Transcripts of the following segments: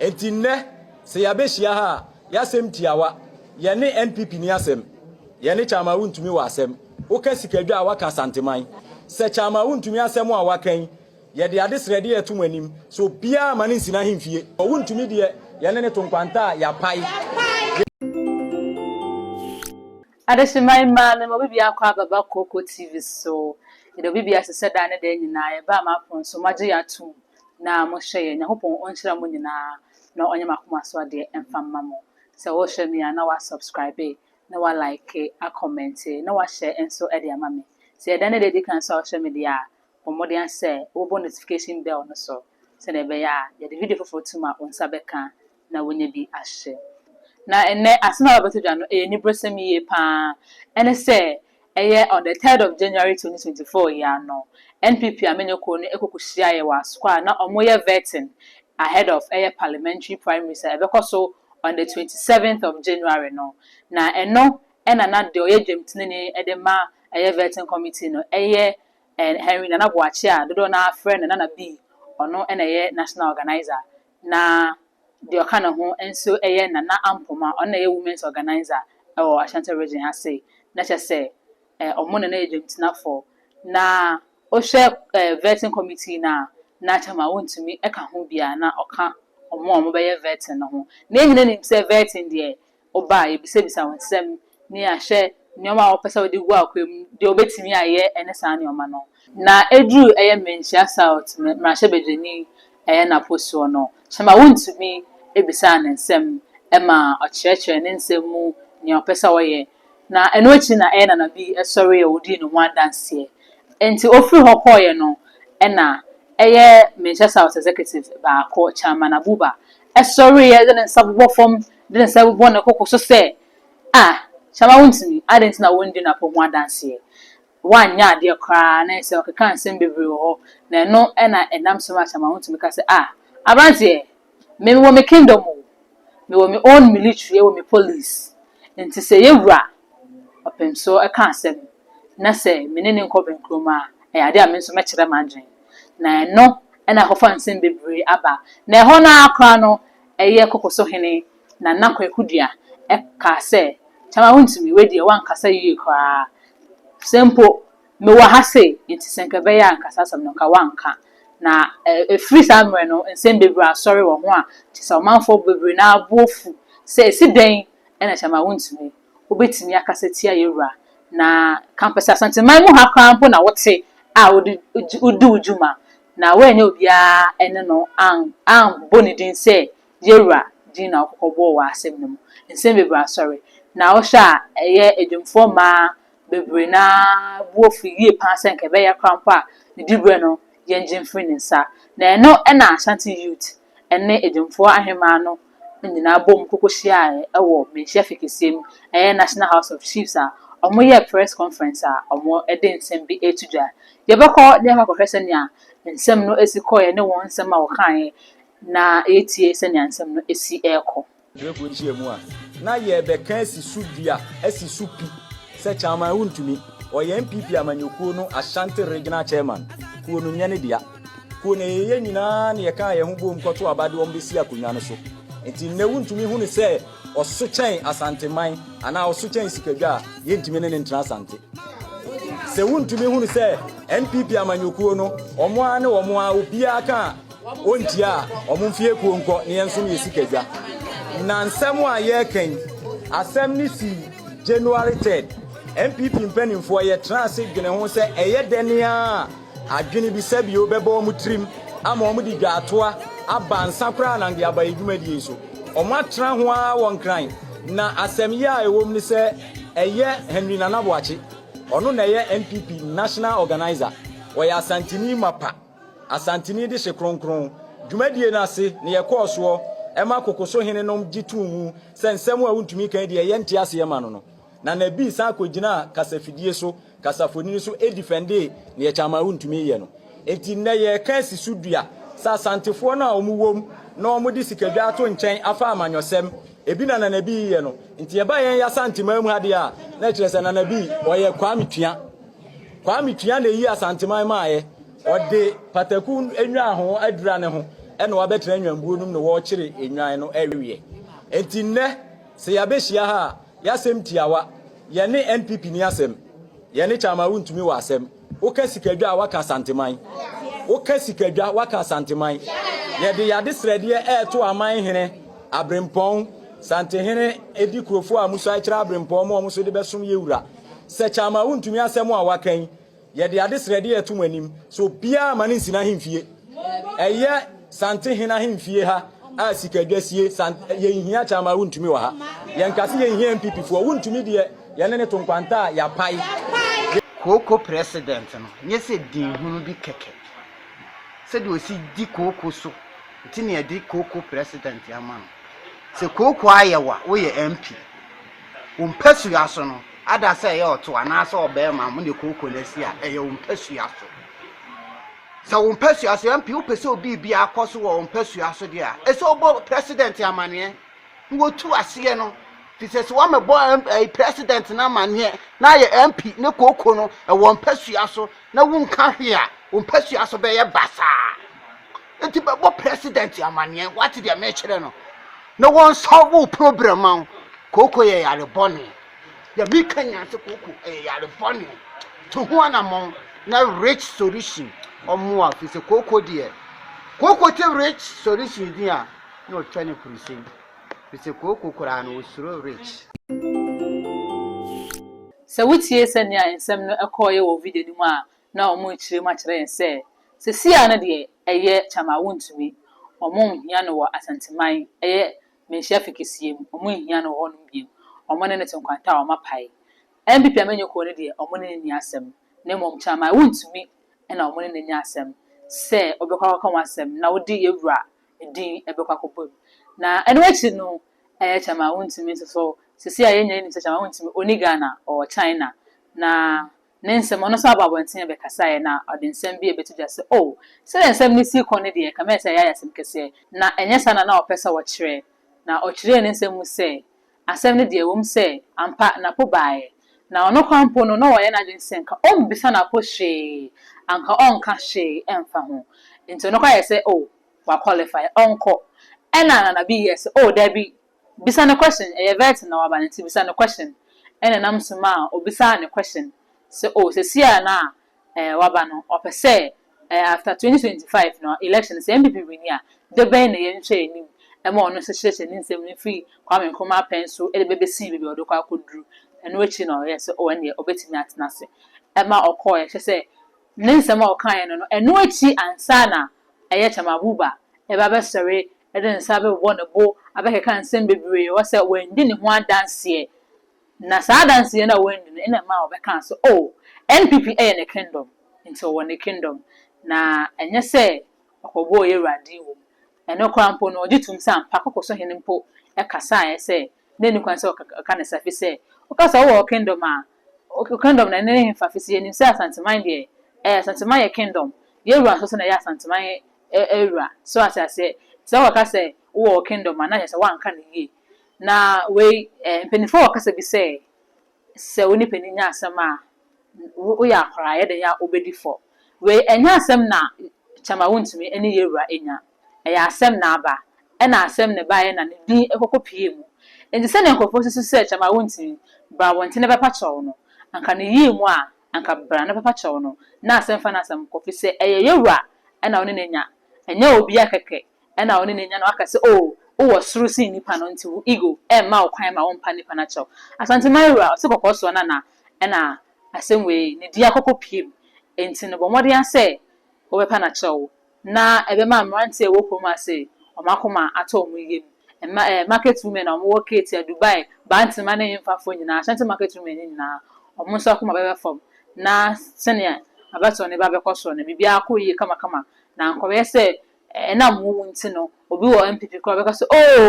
Enti nnɛ, sɛ yɛabehyia ha a, y'asɛm tiawa. Yɛne NPP ni asɛm. Yɛne Chairman Wontumi wɔ asɛm. Woka sikadwa a waka Asanteman. Sɛ Chairman Wontumi asɛm a waka yi, yɛde ade srɛde yɛto mo anim sɛ obiara mma no nsina ahemfie. Wɔ Wontumi deɛ, yɛne no to nkwanta a yɛapae. Adehyemma yi maa mema obi biako a bɛba Kooko TV so. Yɛde obi biako sɛ daa ne daa nyinaa yɛbaa m'apon so, moagye yɛn atom na mohwɛ yɛn. Nyankopɔn ɔnhyira mo nyinaa na ɔnyɛ m'akoma so adeɛ mfa mma mo. Sɛ wohwɛ me a na wa subscribe, na wa like, a comment, na wa share nso de ama me. Sɛ yɛ daa ne daa edi kan nso a wohwɛ me deɛ a, bɔ mmɔden asɛ wobɔ notification bell no so sɛdeɛ ɛbɛyɛ a yɛde video foforo tom a wo nsa bɛka. na wanya bi ahyɛ. Na ɛnnɛ, asɛm a wɔabɛto dwa no, ɛyɛ aniberesɛm yiye pa ara. Ɛne sɛ, ɛyɛ on the third of January twenty twenty four yi ara no, NPP amanyɔ kuo no kɔ kohyiaeɛ wɔ Asukwa a na wɔreyɛ vetting ahead of ɛyɛ parliamentary primaries a ɛbɛkɔ so on the twenty seventh of January no. Na ɛno na na deɛ ɔyɛ dwamtenani de ma ɛyɛ vetting committee no, ɛyɛ Henry Nana Boakye a dodoɔ no ara frɛ no Nana B, ɔno na ɛyɛ national organiser. na deɛ ɔka ne ho nso yɛ Nana Ampoma, ɔno na ɛyɛ Women's Organiser wɔ Ashanti Region ase, na kyerɛ sɛ wɔn na na yɛ dwamtinafoɔ. Na wohwɛ vetting committee no a, na kyerɛ ma wɔntumi ka ho biara, na ɔka wɔn a wɔbɛyɛ vetting no ho. Na yɛn nyinaa nim sɛ vetting deɛ, Ɔba a, yɛbisabisa wɔn nsɛm ne ahwɛ nnoɔma a wɔpɛ sɛ wɔde gu akwaa mu, deɛ wɔbɛtumi ayɛ ne saa nnoɔma no. Na ɛduru ɛyɛ Manhyia South mmarahyɛbadwani ɛyɛ Napo soɔ no, Hyɛma Wontumi bisaa no nsɛm ma ɔkyerɛkyerɛɛ ne nsɛm mu nea ɔpɛ sɛ ɔyɛ, na ɛno akyi na ɛyɛ Nana Bi sɔreeɛ ɔdii ne ho adanseɛ. Enti ɔfiri hɔ kɔeɛ no na ɛyɛ Manhyia South Executive baako, Chairman Abuba sɔreeɛ de ne nsa bobɔ fam de ne nsa bɛbɔ ne koko so sɛ, Ah, Shammah wontumi, adɛn nti na wondi Napo ho adanseɛ? Woanyɛ adeɛ koraa na ayɛ sɛ ɔkekaa nsɛm bebree wɔ hɔ, na ɛno na ɛnam so maa Shammah wontumi ka sɛ, Ah, aberanteɛ, me mewɔ me kingdom o, mewɔ me own military, yɛwɔ me police, nti sɛ yɛ wura ɔpem so ka asɛm na sɛ me ne no nkɔ bɛnkurom a, ɛyɛ adeɛ a me nso mɛkyerɛ m'adwene. Na ɛno na akɔfa nsɛm bebree aba, na ɛhɔ no ara koraa no ɛyɛ koko so hene, Nana Kwaku Duah, kaa sɛ, Kyama wontumi, wei deɛ woankasa yie koraa. Sɛ mpo mewɔ ha sei, enti sɛ nka ɛbɛyɛ a nka saa asɛm no nka woanka. Na ɛfiri saa mmerɛ no, nsɛm bebree asɔre wɔ ho a kyerɛ sɛ ɔmanfoɔ bebree no ara bo afu sɛ ɛsi dɛn na Kyama wontumi, wobɛtumi akasa tia yɛn wura. Na kampɛsɛ Asanteman mu ha koraa mpo na wote a wode di wo dwuma. Na woannya obiara ne no ammɔ ne din sɛ Yewura din na wokɔkɔ bɔɔ wɔ asɛm no mu. Nsɛm bebree asɔre. Na wohwɛ a, ɛyɛ adwumfoɔ mmaa bebree no ara bo afu yie paa sɛ nka ɛbɛyɛ koraa mpo a, ne diberɛ no, yɛngye mfiri ne nsa. Na ɛno na Ashanti Youth ɛne Edwomfoɔ Ahemaa no nyinaa boom koko hyiaaɛ wɔ Manhyia Fie kɛseɛ mu, ɛyɛ National House of Chiefs a ɔmo yɛɛ press conference a ɔmo de nsɛm bi reto dwa. Yɛbɛkɔ na yɛakɔ akɔhwɛ sɛnea nsɛm no si kɔɔɛ ne wɔn nsɛm a wɔkaaɛ na yɛatie sɛnea nsɛm no si rekɔ. Preko nhyiamu a na yɛrebɛka asi so dua asi so pi sɛ Chairman wontumi. Ɔyɛ NPP amanyɔkuo no Ashanti Regional Chairman. Kuo no nyɛ ne dea. Kuo no yɛyɛ nyinaa na yɛkaa yɛn ho boom kɔto aba de wɔn bɛsi akonnwa no so. Nti nnɛ wontumi hu no sɛ ɔso kyɛn Asanteman anaa ɔso kyɛn Sikadwa a yɛntumi ne no ntena Asante. Sɛ wontumi hu no sɛ NPP amanyɔkuo no wɔn ara ne wɔn ara obiara ka a Wontie a, wɔmfi akuo nkɔ na yɛnso yɛ sika dwa. Na nsɛm a yɛreka yi, asɛm no sii January 3rd. NPP mpanimfoɔ yɛtena ase dwene ho sɛ ɛyɛ dɛn ara a adwene bi sɛbio bɛbɔ wɔn tirim ama wɔde dwaatoa aba nsa koraa na de aba yɛn dwumadie yi so. Wɔatena ho ara wɔ Nkran na asɛm yi a ɛwɔ mu ne sɛ ɛyɛ Henry Nana Boakye. Ɔno na ɛyɛ NPP National Organiser. Ɔyɛ Asanteni mapa. Asanteni de hye kronkron dwumadie no ase na yɛkɔɔ soɔ ma kokoso hene nom gye too mu sɛ nsɛm a wontumi kan deɛ yɛ nte aseɛ ma no no. Na Nabi san kɔgyinaa kasafidie so, kasafonini so, defendee deɛ Chaman wontumi yɛ no. Enti nnɛ yɛreka asi so dua sɛ Asantefoɔ no a wɔn wom na wɔn de sikadwa ato nkyɛn afa amanyɔsɛm, ebi na na Nabi yɛ no. Nti ɛba yɛn Asanteman mu ha deɛ a na ɛkyerɛ sɛ na Nabi ɔyɛ Kwame Tua. Kwame Tua na eyi Asanteman maaeɛ. Ɔde pataku nnwan ho adura ne ho na wabɛtena nnwanbuo no mu na wɔrekyere nnwan no aweɛ. Enti nnɛ, sɛ yɛabɛhyia ha a, yɛasɛm tiawa. Yɛne NPP ni asɛm. Yɛne Chairman Wontumi wɔ asɛm. Woka sikadwa a, woaka Asanteman. Woka sikadwa, woaka Asanteman. Yɛde yɛade srɛdeɛ ɛreto aman hene Aberempɔn, Santehene Edi Kurofoɔ a musuae kyerɛ Aberempɔn ma wɔn nso de bɛsom yɛn wura. Sɛ Kyama wontumi asɛm a waka yi, yɛde ade srɛdeɛ ɛto mo anim sɛ obiara ma no nsi n'ahemfie. Ɛyɛ Santehene ahemfie ha a sikadwa sie. Yɛnhia Kyama wontumi wɔ ha. Yɛnka se yɛnhia NPP foɔ. Wontumi deɛ yɛne ne to nkwanta a yɛapae. Kooko president no nyɛ sɛ din hunu bi kɛkɛ. Sɛdeɛ ɔsi di kooko so nti na yɛde kooko president ama no. Sɛ kooko ayɛ wo a, woyɛ MP. Wo mpasua so no, ada sɛ ɛyɛ ɔto anaasɛ ɔbarima a mo ne kooko no asi a, ɛyɛ wo mpasua so. Sɛ wo mpasua so, MP wopɛ sɛ obi bi akɔ so wɔ wo mpasua so deɛ a, ɛsɛ wobɔ president amaneɛ na wɔtu aseɛ no. Firi sɛ sɛ wɔmɛbɔ ɛyi president no amaneɛ na ayɛ MP ne kooko no ɛwɔ mpasua so na wonka hwee a, wo mpasua so bɛyɛ basaa. Enti bɛbɔ president amaneɛ wate deɛ mekyerɛ no na wɔnsɔlve wo problem ma wo kooko yɛ yare bɔne deɛ meka nyinaa sɛ kooko ɛyɛ yare bɔne to ho anammɔn na rich solution ɔmmoa fi sɛ kooko deɛ kooko te rich solution din a na ɔtwa ne kurusɛm fi sɛ kooko koraa no ɔsuro rich Sɛ wotie sɛnea nsɛm no kɔeɛ wɔ video no mu a, na wɔn rekyerɛ mu akyerɛ yɛn sɛ seesei ara no deɛ ɛyɛ kyama a wɔntumi, wɔnhia no wɔ Asanteman, ɛyɛ Manhyia Fikisseɛ mu, wɔnhia no wɔ hɔnom bio, wɔn ne no te nkwanta a wɔapae. NPP amanyɔkuo no deɛ wɔn ne no nni asɛm, na mmom kyama a wɔntumi na wɔn ne no anya asɛm sɛ wɔbɛkɔ akɔka wɔn asɛm na wɔde yɛn wura din bɛkɔ akɔbɔ mu. Na ɛno akyi no, ɛyɛ kyama a wɔntumi nso so, seesei ara yɛn nyinaa nim sɛ kyama a wɔntumi, ɔnni Ghana, ɔwɔ China, na Ne nsam, ɔno nso abɔ abɔnten abɛkasaeɛ, na ɔde nsɛm bi rebɛto dwa sɛ, O, sɛdeɛ nsɛm no sii kɔ no deɛ, ɛkame ayɛ sɛ yɛayɛ asɛm kɛseɛ, na ɛnyɛ saa na na wɔpɛ sɛ wɔkyerɛ. Na ɔkyerɛɛ ne nsɛm mu sɛ, Asɛm no deɛ, ɛwom sɛ, ampa, n'apo baeɛ, na ɔno koraa mpo no, na wayɛ n'adwene sɛ anka ɔremmisa n'apo hwee, anka ɔrenka hwee mfa ho. Enti ɔno koraa yɛɛ sɛ, O, wakwɔlifae, ɔnkɔ. Ɛnna Nana B yɛɛ sɛ, O, dabi, Bisa no question, ɛyɛ vet na waba no nti bisa no question, ɛna ɛnam so maa obisaa no question sɛ oh sesie a na eh waba no ɔpɛ sɛ eh after twenty twenty five no election no sɛ NPP winni a de bɛn na yɛn nhwɛ anim ɛma ɔno nso kyerɛkyerɛ ne nsɛm no firi Kwame Nkrumah pɛn so ɛde bɛbɛsi baabi a ɔde kɔ akɔduru ɛno akyi na ɔyɛɛ sɛ oh ɛneɛ ɔbɛtumi atena ase ɛma ɔkɔɔɛ kyerɛ sɛ ne nsɛm a ɔkaeɛ no no ɛno akyi ansa na ɛyɛ Chairman Abuba ɛba bɛsɔre Ɛde ne nsa bɛbobɔ ne bo, abɛkeka nsɛm bebree, wɔ sɛ wandi ne ho adanseɛ. Na saa adanseɛ no a wandi no na ɛma wɔbɛkaa sɛ, oh, NPP yɛ ne kingdom, nti ɔwɔ ne kingdom, na ɛnyɛ sɛ ɔkɔbɔɔ Yawurade wɔ mu. Ɛno koraa mpo no, ɔgye tom sɛ ampa Kwakoso hene mpo kasaeɛ sɛ na ɛnni kwan sɛ ɔka ne sa, firi sɛ woka sɛ wowɔ wo kingdom a, wo kingdom no ɛne ne hefa, firi sɛ yɛnim sɛ Asanteman deɛ, ɛɛ, Asanteman yɛ kingdom, Yawura nso so na ɛyɛ Asanteman wura. So ate aseɛ? Nti sɛ wɔka sɛ wowɔ wo kingdom a, na kyerɛ sɛ woanka no yie. Na wei, eh, mpanimfoɔ wɔ kasa bi sɛ, sɛ wo ne panin nya asɛm a, wo, woyɛ akwadaa a, ɛyɛ dɛn a wobɛdi fɔ. Wei, ɛnyɛ asɛm na kyɛm a wontumi ne yɛwura nya. Ɛyɛ asɛm na aba. Ɛna asɛm na ɛbaeɛ na ne din kɔkɔ puee mu. Nti sɛdeɛ nkurɔfoɔ susu sɛ kyɛm a wontumi, bra abɔnten na bɛpa kyɛw no, anka ne yii mu a, anka bra ne papa kyɛw no na asɛm fa n'asɛm kɔ fi sɛ ɛyɛ yɛ wura ɛna wo ne no anya ɛnyɛ obi a kɛkɛ ɛna wo ne no anya na waka sɛ oo wo wɔ soro sen nipa no nti wo ego ɛmma wo kwan ma wo mpa nipa no kyɛw Asanteman wura ɔse kɔkɔɔ soɔ na na ɛna asɛm wei ne di akɔkɔ piem nti no bɔ mmɔden a sɛ wo bɛpa no akyɛw na ɛbɛma mmeranteɛ a wɔwɔ kurom ase wɔn akoma atɔ wɔn yam. Mma eh, market women a wɔwɔ Ketia, Dubai, Bantama ne Nyemfafoɔ nyinaa, Ashanti market women no nyinaa, wɔn nso akoma bɛba fam na sɛdeɛ abatoɔ no reba abɛkɔ soro no, biribiara akɔ yie kamakama na ankɔyɛ sɛ ɛnam wo mu nti no, obi wɔ NPP koraa ɔbɛka sɛ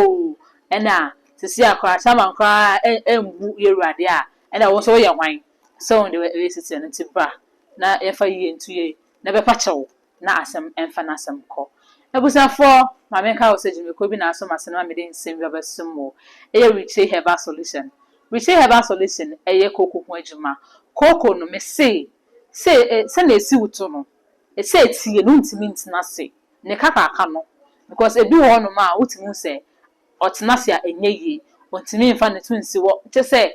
ooh, ɛna seesei a koraa Chairman koraa ɛ, mbu Yɛwurade a, ɛna wo nso woyɛ hwan sɛ wo deɛ woyɛ seteɛ no, nti bra na yɛmfa yie nto yie na bɛpa kyɛw. na asɛm mfa n'asɛm kɔ. Abusuafoɔ, ma me nka wo sɛ dwumakuo bi na aso m'asene ma mede nsɛm bi abɛsom mo. Ɛyɛ Richey Herbal Solution. Richey Herbal Solution yɛ kooko ho adwuma. Kooko no, me se, se e, sɛdeɛ ɛsi wo to no, ɛsɛ ɛtie na wontumi ntena ase. Ne kakaaka no, because ɛbi wɔ hɔ nom a wotumi hu sɛ Ɔtena ase a, ɛnyɛ yie. Ɔntumi mfa ne to nsi hɔ te sɛ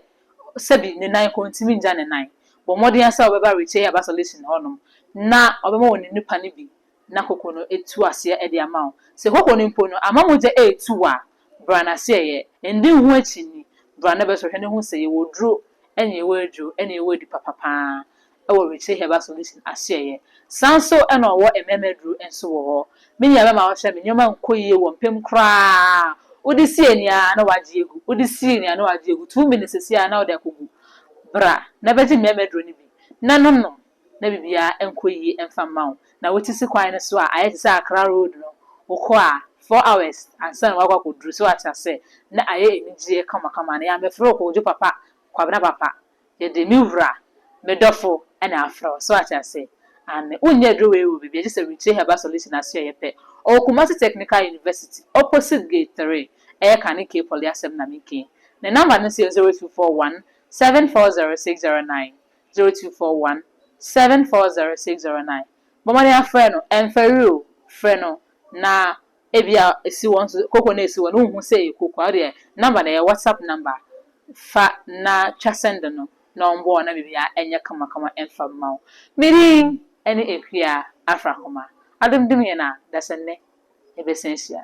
sɛbi ne nan kɔ, ɔntumi ngya ne nan. Bɔ mmɔden ara sɛ wobɛba Recheah Bus Solution hɔnom na ɔbɛma wo ne nnupa no bi na koko no atu aseɛ de ama wo. Sɛ koko no mpo no amma mogya ɛretu wo a, bra n'aseɛyɛ. Ɛndi wo ho akyi nni. Bra na bɛsɔhwɛ na hu sɛ yɛwɔ duro ɛne yɛwɔ aduro ɛne yɛwɔ adupapa pa ara. wɔ Richley Herbal Solution asoɛeɛ. Saa nso na ɔwɔ mmarima aduro nso wɔ hɔ. Me nua bɛma woahwɛ me nneɛma nkɔ yie wɔ mpem koraa. Wode si ani a na wagye agu. Wode si ani a na wagye agu. Two minutes seesei a na wode akɔgu. Bra na bɛgye mmarima aduro no bi na no nom na biribiara nkɔ yie mfa mma wo. Na wote si kwan no so a ayɛ te sɛ Accra road no, wokɔ a four hours ansa na woakɔ akɔduru. So wate aseɛ? Na ayɛ anigyeɛ kamakama. Na yɛammɛfrɛ wo Kojo papa, Kwabena papa. Yɛde me wura, me dɔfo na afrɛ wo. So wate ase? Aane. Wonyɛ aduro wei wɔ baabi a, gye sɛ Retire Herbal Solution ase a ɛyɛ pɛ. Ɔwɔ Kumasi Technical University, opposite gate three. Ɛyɛ ka ne K-poly asɛm na meke yi. Ne number no nso yɛ zero two four one seven four zero six zero nine, zero two four one seven four zero six zero nine. Bɔ mmɔden frɛ no. Ɛmfɛre o, frɛ no na Ebia esi hɔ nso, koko no a esi hɔ no wonhu sɛ ɛyɛ koko a, wodeɛ number no ɛyɛ WhatsApp number fa na twa send no na wɔn boa wo na biribiara ɛnyɛ kamakama ɛmfa mma wo. Me din ɛne Akua Afrakoma. Adom dom yɛn a dasɛnnɛ yɛbɛsan ahyia.